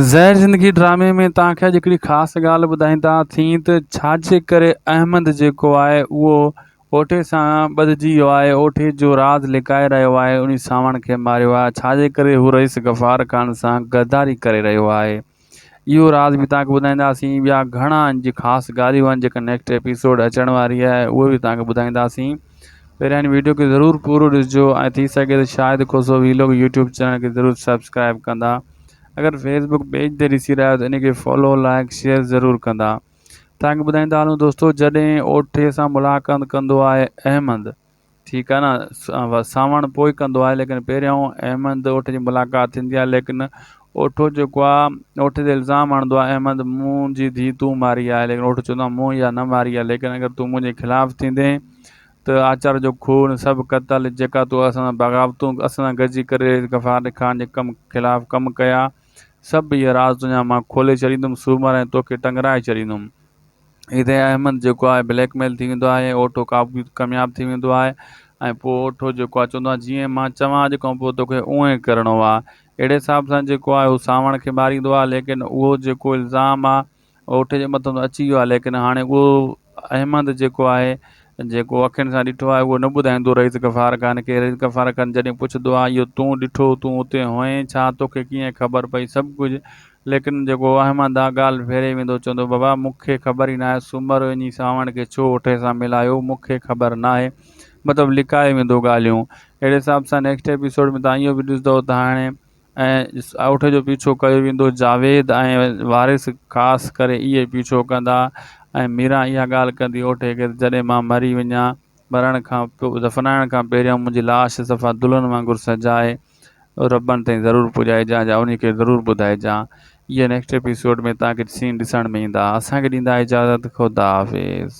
زهر زندگي ڊرامي ۾ توهان کي اڄ هڪڙي خاص ڳالهه ٻڌائيندا ٿين ته ڇاجي ڪري احمد جيڪو آهي اهو اوٺي سان ٻڌجي ويو آهي اوٺي جو راز لڪائي رهيو آهي انهي سانوڻ کي ماريو آهي ڇاجي ڪري هو رئيس غفار خان سان غداري ڪري رهيو آهي اهو راز به توهان کي ٻڌائينداسين ٻيا گهڻا انج خاص ڳالهيون آهن جيڪا نيڪسٽ ايپيسوڊ اچڻ واري آهي اهي به توهان کي ٻڌائينداسين پهريان هن ويڊيو کي ضرور پورو ڏسجو ۽ ٿي سگهي ته Shahid Khoso vlog YouTube channel کي ضرور سبسڪرائب ڪندا اگر فيس بڪ پيج تي ڏسي رهيا آهيو ته ان کي فالو لائيڪ شيئر ضرور ڪندا توهانکي ٻڌائيندا هلون دوستو جڏهن اوٺي سان ملاقات ڪندو آهي احمد ٺيڪ آهي نه ساوڻ پوء ڪندو آهي ليڪن پهريان احمد اوٺ جي ملاقات ٿيندي آهي ليڪن اوٺو جيڪو آ اوٺي تي الزام هڻندو آ احمد مون جي ڌي تون ماري آهي ليڪن اوٺو چوندو آ مون اها نه ماري آ ليڪن اگر تون منهنجي خلاف ٿيندين ته آچار جو خون سڀ قتل جيڪا تو اسان سان بغاوتون اسان سان گڏجي ڪري غفار خان جي ڪم خلاف ڪم ڪيا سڀ اهي راز تنهنجا مان کولي ڇڏيندم سومر ۽ توکي ٽنگرائي ڇڏيندم. هتي احمد جيڪو آهي بليڪ ميل ٿي ويندو آهي ۽ اوٺو ڪامياب ٿي ويندو آهي ۽ پوء اوٺو جيڪو آهي چوندو آهي جيئن مان چوان اڄ کان پوء توکي اونئن ئي ڪرڻو آهي اهڙي حساب سان جيڪو آهي هو سانوڻ کي ماريندو آهي ليڪن اهو جيڪو الزام آهي اوٺي جي مٿن اچي ويو آهي ليڪن هاڻي اهو احمد جيڪو آهي جيڪو اکين سان ڏٺو آهي اهو نه ٻڌائيندو رئيس غفار خان کي رئيس غفار خان جڏهن پڇندو آهي اهو تون ڏٺو تون اتي هئين ڇا توکي ڪيئن خبر پئي سڀ ڪجهه ليڪن جيڪو واهمان دانهن ڳالهه ڦيري ويندو چوندو بابا مون کي خبر ئي ناهي سومرو اڃي سانوڻ کي ڇو اٺي سان ملايو مون کي خبر ناهي مطلب لڪائي ويندو ڳالهيون اهڙي حساب سان نيڪسٽ ايپيسوڊ ۾ توهان اهو به ڏسندو ته هاڻي اٺ جو پيڇو ڪيو ويندو جاويد ۽ وارث خاص ڪري اهي پيڇو ڪندا ۽ ميران اها ڳالهه ڪندي اٺ کي ته جڏهن مان مري وڃان مرڻ کان دفنائڻ کان پهريان منهنجي لاش صفا دلهن وانگر سجائي ربڻ تائين ضرور پڄائجان جا انهي کي ضرور ٻڌائجان اهي نيڪسٽ ايپيسوڊ ۾ توهان کي سين ڏسڻ ۾ ايندا اسان کي ڏيندا اجازت خدا حافظ.